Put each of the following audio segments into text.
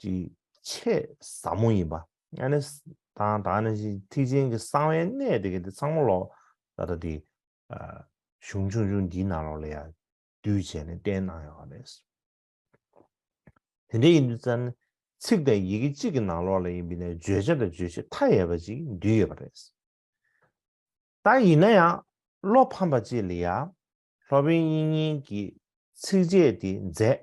ཀྱི་ཆེས་ཟབ་མོ་ཡིན་པ། ཡང་ན་དང་དང་ནི་ཐེག་ཆེན་གྱི་གསང་བའི་གནད་དེ་གི་དེ་ཚང་མ་ལོགས་ད་ལྟ་དེ་གཞུང་ཆུང་ཆུང་འདིའི་ནང་ལོགས་ལ་ཡང་བསྡུས་བྱས་ནས་བསྟན་གནང་ཡོད་པ་རེད། དེ་འདྲ་ཡིན་དུས་ཙར་ནི་ཚིག་དང་ཡི་གེ་གཅིག་གི་ནང་ལོགས་ལ་ཡིན་པའི་ནས་བརྗོད་བྱ་དང་རྗོད་བྱེད་མཐའ་ཡས་པ་ཅིག་འདུས་ཡོད་པ་རེད། ད་ཡིན་ན་ཡང་བློ་ཕམ་པ་ཅིག་ལ་ཡང་ལྷོ་བན་དབྱིན་གཉིས་ཀྱི་ཚིགས་བཅད་དེ་མཛད་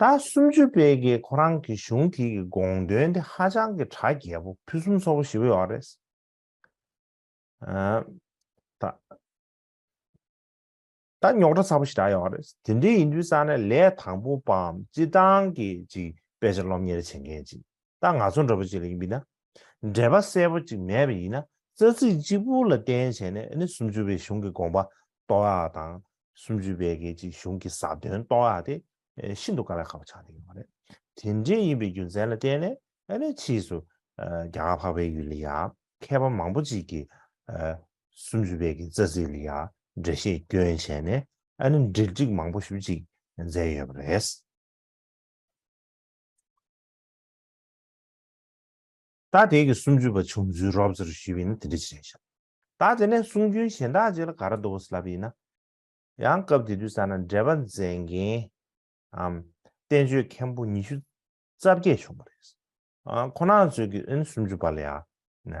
ཟླ་སུམ་ཅུ་པའི་རྗེས་ཁོ་རང་གི་གཞུང་དེ་གི་དགོངས་དོན་དེ་ཧ་ཅང་གི་གྲ་རྒྱས་པོ་ཕུན་སུམ་ཚོགས་པོ་ཞིག་བོད་ཡོག་རེད། ད་རྙོག་གྲ་ཚ་པོ་ཞིག་གྲ་ཡོག་རེད། དེ་འདྲའི་ཡིན་དུས་ས་ནས་ལས་དང་པོ་པའམ་སྤྱི་བཏང་གི་ཅིག་དཔེ་ཆ་སློབ་གཉེར་བྱེད་མཁན་ཅིག་ད་ང་ཚོ་འདྲ་པོ་ཅིག་ལ་ཡིན་པས་ན་འབྲེལ་པ་གསལ་པོ་གཅིག་མེད་པ་ཡིན་ན་རྩ་ཚིག་གཅིག་པུ་ལ་བརྟེན་བྱས་ནས་ནི་སུམ་ཅུ་པའི་གཞུང་གི་དགོངས་པ་རྟོགས་ཡ་དང་སུམ་ཅུ་པའི་སྐད་ཅིག་གཞུང་གི་ཟབ་དོན་རྟོགས་ཡ་དེ་ཤིན་ཏུ་དཀའ་བའི་ཁ་བ་ཆགས་ཏེ་ཡོད་པ་རེད། དེ་འདྲའི་ཡིན་པའི་རྒྱུ་མཚན་ལ་བརྟེན་ནས་ནི་ཕྱིས་སུ་རྒྱ་གར་འཕགས་པའི་ཡུལ་ལ་ཡང་མཁས་པ་མང་པོ་ཅིག་གིས་སུམ་ཅུ་པའི་གི་རྩ་ཚིག་ལ་ཡང་འགྲེལ་བཤད་སྐྱོན་བྱས་ནས་ནི་འགྲེལ་སྒྲིག་མང་པོ་ཞུ་ཅིག་མཛད་ཡོད་པ་རེད། ད་དེ་གི་སུམ་ཅུ་པ་བྱུང་ཚུལ་རོབ་ཙེར་ཞུས་པས་ན་དེ་འདྲ་ཅི་རེད་བཤད། ད་དེ་ནས་གསུང་རྒྱུན་གཞན་དག་ཅིག་ལ་ག་ར་འདུག་བ་སི་ལབ་ཡིན་ན། ཡང་སྐབས་དེ་དུས་ས་ན་འགྲེལ་པ་མཛད་མཁན་ཨམ། བསྟན་བཅོས་མཁན་པོ་ཉི་ཤུ་རྩ་བརྒྱད་བྱུང་བ་རེད། ཁོ་ན་ཚོས་ཀི་ཨིན་སུམ་ཅུ་པ་ལ་ཡང།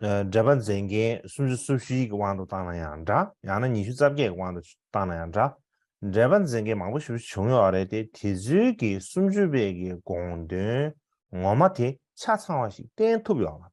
འགྲེལ་པ་མཛེས་རྒྱན་སུམ་ཅུ་སོ་བཞིའི་དབང་དུ་བཏང་ན་ཡང་འདྲ་ཡང་ན་ཉི་ཤུ་རྩ་བརྒྱད་ཀྱི་དབང་དུ་བཏང་ན་ཡང་འདྲ། འགྲེལ་པ་མཛེས་རྒྱན་མང་པོ་ཞིག་བྱུང་ཡོད་རེད་དེ་དེ་ཚུལ་གྱིས་སུམ་ཅུ་པའི་གི་དགོངས་དོན་ངོ་མ་དེ་ཆ་ཚང་བ་ཞིག་བསྟན་ཐུབ་ཡོད་མ་རེད།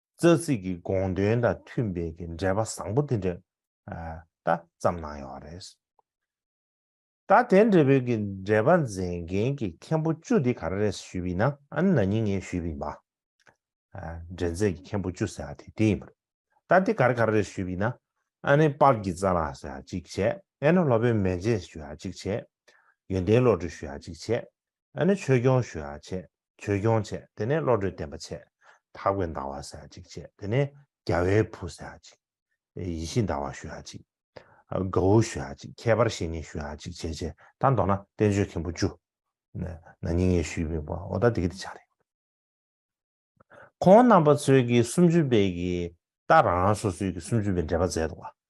རྩ་ཚིག་གི་དགོངས་དོན་དང་མཐུན་པའི་གི་འགྲེལ་པ་བཟང་པོ་དེ་འདྲ་ད་ཙམ་གནང་ཡོང་བ་རེད། ད་དེ་འདྲ་བོའི་གི་འགྲེལ་པ་མཛད་མཁན་གི་མཁན་པོ་བཅུ་དེ་ག་རེ་རེད་ཞུས་པའི་ན་ཨ་ན་ཉིན་ངས་ཞུས་པའི་མ་འགྲེལ་མཛད་གི་མཁན་པོ་བཅུ་ཟེར་བ་དེ་དེ་ཡིན་པ་རེད། ད་དེ་ག་རེ་ག་རེ་རེད་ཞུས་པའི་ན་ཨ་ནི་དཔག་གི་རྩ་ལགས་ཟེར་བ་གཅིག་བྱས་ཨེ་ན་ལྷོ་བོད་མན་ཆད་ཞུས་བ་གཅིག་བྱས། ཡོན་ཏན་བློ་གྲོས་ཞུས་བ་གཅིག་བྱས་ཨེ་ན་ཆོས་སྐྱོང་ཞུས་བ་བྱས། བྱོལ་སྐྱོང་བྱས་དེ་ནས་བློ་གྲོས་བརྟན་པ་བྱས། དག་པའི་འདའ་བ་ཟ་ཅིག་བྱས་དེ་ནས་རྒྱ་བའི་བུ་ཟ་ཅིག། ཡེ་ཤེས་འདའ་བ་ཞུ་ཡ་ཅིག། དགའ་བོ་ཞུ་ཡ་ཅིག་ཁྱད་པར་བཤེས་གཉེན་ཞུ་ཡ་ཅིག་བྱས་བྱས་ད་མདོར་ན་བསྟན་བཅོས་མཁན་པོ་བཅུ། ན་ནིང་ཡེ་ཤུའི་དཔོན་པོ་ཨོ་ད་དེ་གི་དེ་ཆགས་རེད། ཁོང་རྣམ་པ་ཚོས་ཀྱི་སུམ་ཅུ་པའི་གི་ད་རང་རང་སོ་སོའི་གི་སུམ་ཅུ་པའི་འགྲེལ་པ་མཛད་འདུག་བ།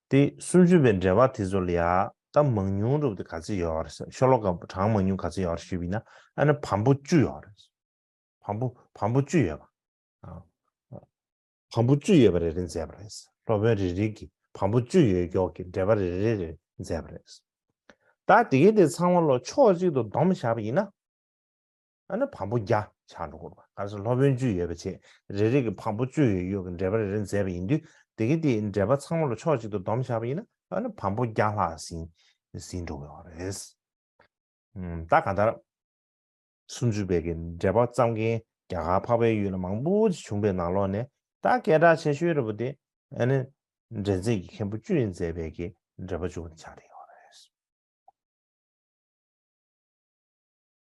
ཏེ་སུམ་ཅུ་པའི་འགྲེལ་པ་དེ་ཚོ་ལ་ཡང་གཏམ་མང་ཉུང་རུབ་དེ་ག་ཚོད་ཡོད་རེད་ཟེར་ཤོ་ལོ་ཀ་གྲངས་མང་ཉུང་ག་ཚོད་ཡོད་རེད་ཞུས་པས་ན་ཨ་ནི་བམ་པོ་བཅུ་ཡོད་རེད་ཟེར། བམ་པོ་བམ་པོ་བཅུ་ཡོད་པ་ཨ། བམ་པོ་བཅུ་ཡོད་པ་རེ་རེ་མཛད་པ་རེད་ཟེར་སློབ་དཔོན་རེ་རེ་གིས་བམ་པོ་བཅུ་ཡོད་མགྱོགས་ཀྱི་འགྲེལ་པ་རེ་རེ་རེ་མཛད་པ་རེད་ཟེར། ད་དེ་གའི་དེ་ཚང་མ་ལོ་ཕྱོགས་གཅིག་ཏུ་བསྡོམས་བཞག་པ་ཡིན་ན། ཨ་ནི་བམ་པོ་བརྒྱ་ཕྱག་འགྲོ་སྐོར་བ་གར་སོང་སློབ་དཔོན་བཅུ་ཡོད་པ་ཆེད་རེ་རེ་གི་བམ་པོ་བཅུ་ཡོད་ཡོད་ཀྱི་འགྲེལ་པ་རེ་རེ་མཛད་པ་ཡིན་དུས་དེ་གའི་དེའི་འགྲེལ་པ་ཚང་མ་ལ་ཕྱོགས་གཅིག་ཏུ་བསྡོམས་བཞག་པ་ཡིན་ན་ཨ་ནི་བམ་པོ་བརྒྱ་ལྷག་ཟིན་ཟིན་འགྲོ་དགོས་བ་རེད། ད་གང་ལྟར། སུམ་ཅུ་པའི་གི་འགྲེལ་པ་བརྩམས་མཁན་རྒྱ་གར་འཕགས་པའི་ཡུལ་ལ་མང་པོ་ཅིག་བྱུང་པའི་ནང་ལོགས་ནས་ད་སྐད་གྲགས་ཆེ་ཤོས་རེ་བོ་དེ་ཨ་ནི་འགྲེལ་མཛད་ཀྱི་མཁན་པོ་བཅུ་ཡིས་མཛད་པའི་གི་འགྲེལ་པ་བཅུ་བ་འདི་ཆགས་བསྡད་ཡོད་བ་རེད།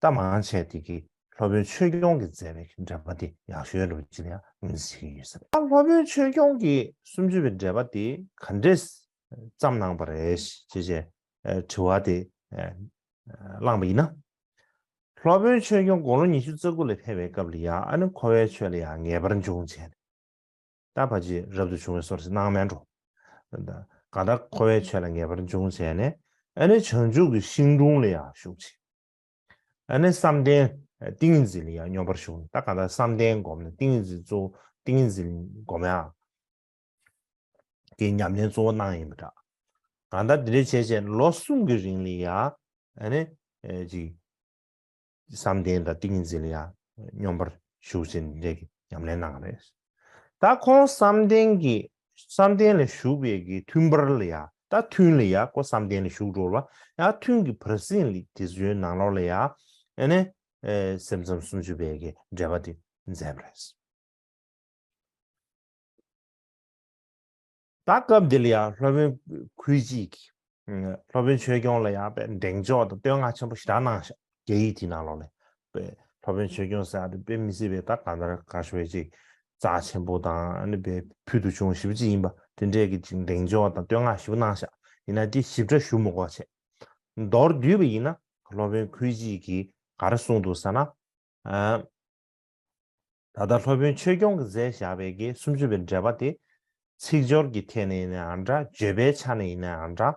རྟ་མང་བྱས་དེ་གིས་སློབ་དཔོན་ཆོས་སྐྱོང་གིས་མཛད་པའི་འགྲེལ་པ་དེ་ཡག་ཤོས་ལོ་ཅི་ནའང་ཟེར་གྱི་ཡོད་ས་རེད། སློབ་དཔོན་ཆོས་སྐྱོང་གིས་སུམ་ཅུ་པའི་འགྲེལ་པ་དེ་ག་འདྲས་བརྩམས་གནང་བ་རེད་ཅེས་ཅེས་དྲི་བ་དེ་བསླངས་པ་ཡིན་ན། སློབ་དཔོན་ཆོས་སྐྱོང་དགུང་ལོ་ཉི་ཤུ་རྩ་དགུ་ལ་ཕེབས་པའི་སྐབས་ལ་ཡང་ཨ་ནི་ཁོ་བའི་ཆོས་ལ་ཡང་ངེས་པར་འབྱུང་བྱས། ད་བར་གྱི་རབ་ཏུ་བྱུང་བའི་སོར་སྣང་སྨད་འགྲོ། གང་ལྟར་འཁོར་བའི་ཆོས་ལ་ངེས་པར་འབྱུང་བྱས་ནས། ཨ་ནི་བྱང་ཆུབ་ཀྱི་ཤིང་དྲུང་ལ་ཡང་ཞུགས་ཕྱིན། ཨ་ནི་བསམ་གཏན་ཏིང་ངེ་འཛིན་ལ་ཡང་སྙོམས་པར་ཞུགས་ནས་ད་གང་ལྟར་བསམ་གཏན་བསྒོམས་ནས་ཏིང་ངེ་འཛིན་གཙོ་བོ་ཏིང་ངེ་འཛིན་བསྒོམ་ཡང། དེའི་ཉམས་ལེན་གཙོ་བོ་སྣང་ཡིན་པ་འདྲ། གང་ལྟར་འདི་འདྲའི་བྱས་བྱས་ལོ་གསུམ་གྱི་རིང་ལ་ཡང་ཨ་ནི་གཅིག། བསམ་གཏན་དང་ཏིང་ངེ་འཛིན་ལ་ཡང་སྙོམས་པར་ཞུགས་ཟིན་རེ་གི་ཉམས་ལེན་གནང་བ་རེད། ད་ཁོང་བསམ་གཏན་གྱི་བསམ་གཏན་ལ་ཞུགས་པའི་གི་མཐུན་པར་ལ་ཡང་ད་མཐུན་ལ་ཡང་ཁོ་བསམ་གཏན་ལ་ཞུགས་འགྲོ་ལ་ཡང་མཐུན་གི་བར་གསེང་ལ་དེ་བཟོའི་ནང་ལོགས་ལ་ཡང་ཨ་ནི་སེམས་ཙམ་སུམ་ཅུ་པའི་གི་འགྲེལ་པ་དེ་མཛད་པ་རེད། ད་སྐབས་འདི་ལ་ཡང་སློབ་དཔོན་གུས་སྐྱིད་ཀྱིས། སློབ་དཔོན་ཆོས་སྐྱོང་ལ་ཡང་པའི་འདེང་འཇོག་དང་བསྟོད་བསྔགས་ཆེན་པོ་ཞེ་དྲག་གནང་ཞིང། རྒྱ་ཡིག་དེའི་ནང་ལོགས་ནས། པའི་སློབ་དཔོན་ཆོས་སྐྱོང་ཟེར་བ་དེ་དཔེ་མི་སྲིད་པའི་ད་ག་ནས་ར་ག་ཞོལ་གྱི་ཅིག་ཙག་ཆེན་པོ་དང་ནི་པའི་ཕུལ་དུ་བྱུང་ཞིབ་ཅིག་ཡིན་པ་དེ་འདྲས་ཀྱི་ཅིག་འདེང་འཇོག་དང་བསྟོད་བསྔགས་ཞིབ་གནང་ཞག་ཡིན་ན་དེ་ཞིབ་ཕྲ་ཞུ་མུ་གོ་བྱས། མདོར་བསྡུས་པ་ཡིན་ན་སློབ་དཔོན་གུས་སྐྱིད་ཀྱིས་ག་རེ་གསུངས་འདུག་ཟེར་ན། ད་ལྟ་སློབ་དཔོན་ཆོས་སྐྱོང་གིས་མཛད་བཞག་པའི་དགེ་སུམ་ཅུ་པའི་འགྲེལ་པ་དེ། ཚིག་སྦྱོར་གྱི་ཐད་ནས་ཡིན་ནའང་འདྲ་བརྗོད་པའི་ཆ་ནས་ཡིན་ནའང་འདྲ།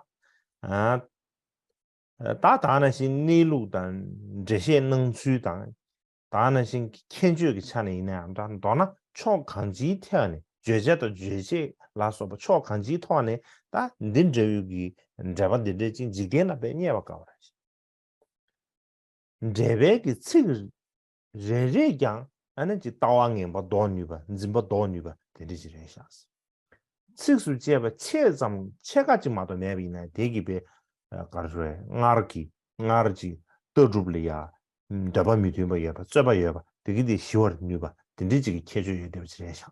ད་དག་ན་བཞིན་གནས་ལུགས་དང་འགྲེལ་བཤད་གནང་ཚུལ་དང། དག་ན་བཞིན་གྱི་མཁྱེན་དཔྱོད་ཀྱི་ཆ་ནས་ཡིན་ནའང་འདྲ་མདོར་ན་ཕྱོགས་གང་ཅིའི་ཐད་ནས་བརྗོད་བྱ་དང་རྗོད་བྱེད་ལ་སོགས་པ་ཕྱོགས་གང་ཅིའི་ཐོག་ནས་ད་འདི་འདྲ་ཡོད་ཀྱི་འགྲེལ་པ་འདི་འགྲེལ་ཅིང་འཇིག་རྟེན་ལ་བས་རྙེད་པར་དཀའ་བ་རེད། འགྲེལ་པའི་གི་ཚིག། རེ་རེས་ཀྱང་ཨ་ན་ཅིག་ལྟ་བ་ངན་པ་ཟློག་ནུས་པ་འཛིན་པ་ཟློག་ནུས་པ་དེ་འདྲ་ཅིག་རེད་བཞག། ཚིགས་སུ་བཅད་པ་ཕྱེད་ཙམ་ཕྱེད་ཀ་ཅིག་མ་གཏོགས་མེད་པ་ཡིན་ན་དེ་གི་པའི་གར་རོལ་སྔར་གྱི་སྔར་གྱི་ལྟ་གྲུབ་ལ་ཡང་འདོད་པ་མི་མཐུན་པ་ཡོད་པ་རྩོད་པ་ཡོད་པ་དེ་གི་དེ་ཞི་བར་ནུས་པ་དེ་འདྲ་ཅིག་གི་ཁྱད་ཆོས་ཡོད་བསྡད་པ་ཅིག་རེད་བཞག།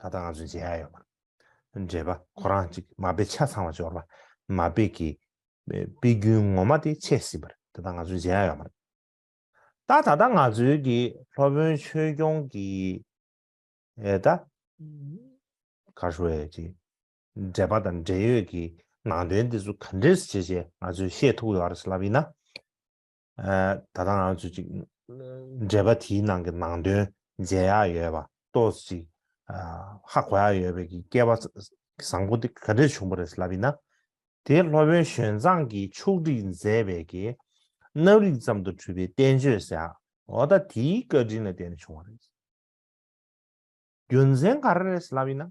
ད་ལྟ་ང་ཚོས་མཇལ་ཡ་ཡོད་པ། འདྲེས་པ་ཁོ་རང་གཅིག་མ་དཔེ་ཆ་ཚང་བ་འབྱོར་པ། མ་དཔེ་ཀྱི་དཔེ་རྒྱུན་ངོ་མ་དེ་ཆད་ཟིན་པར་ད་ལྟ་ང་ཚོས་མཇལ་ཡ་ཡོད་པ་རེད། ད་ད་ལྟ་ང་ཚོའི་གི་སློབ་དཔོན་ཆོས་སྐྱོང་གི་ཨེ་ད། གར་ཧྲུའེ་གྱི་འདྲེས་པ་དང་འབྲེལ་ཡོད་ཀྱི་ནང་དོན་དེ་ཚོ་ག་འདྲེས་བྱེད་ཅེས་ང་ཚོས་ཤེས་ཐུབ་ཡོད་རེད་ལབ་ཡིན་ན། ད་ལྟ་ང་ཚོས་ཅིག་འགྲེལ་པ་དེའི་ནང་གི་ནང་དོན་མཇལ་ཡག་ཡོད་པ་ཏོས་ཅིག་ཧ་གོ་ཡག་ཡོད་པའི་གི་སྐལ་བ་བཟང་པོ་དེ་ག་འདྲས་བྱུང་པ་རེད་ཟེར་ལབ་ཡིན་ན། དེ་སློབ་དཔོན་ཞོན་ཙང་གིས་ཕྱུགས་བསྒྲིགས་མཛད་པའི་གི་རྣམ་རིག་ཙམ་དུ་གྲུབ་པའི་བསྟན་བཅོས་ཟེར་ཡག་འོ་ད་དེའི་བཀའ་དྲིན་ལ་བརྟེན་ནས་བྱུང་བ་རེད། རྒྱུ་མཚན་ག་རེ་རེད་ཟེར་ལབ་ཡིན་ན།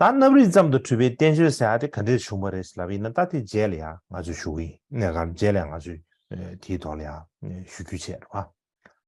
ད་རྣམ་རིག་ཙམ་དུ་འཁྲུལ་པའི་བསྟན་བཅོས་ཟེར་ཡ་དེ་ག་འདྲས་བྱུང་བ་རེད་ལབ་ཡིན་ན་ད་དེ་རྗེས་ལ་ཡང་ང་ཚོས་ཞུ་གི་ཡིན་ནས་གམ་རྗེས་ལ་ཡང་ང་ཚོས་དེའི་ཐོག་ལ་ཡང་ཞུ་རྒྱུ་བྱེད་རོགས།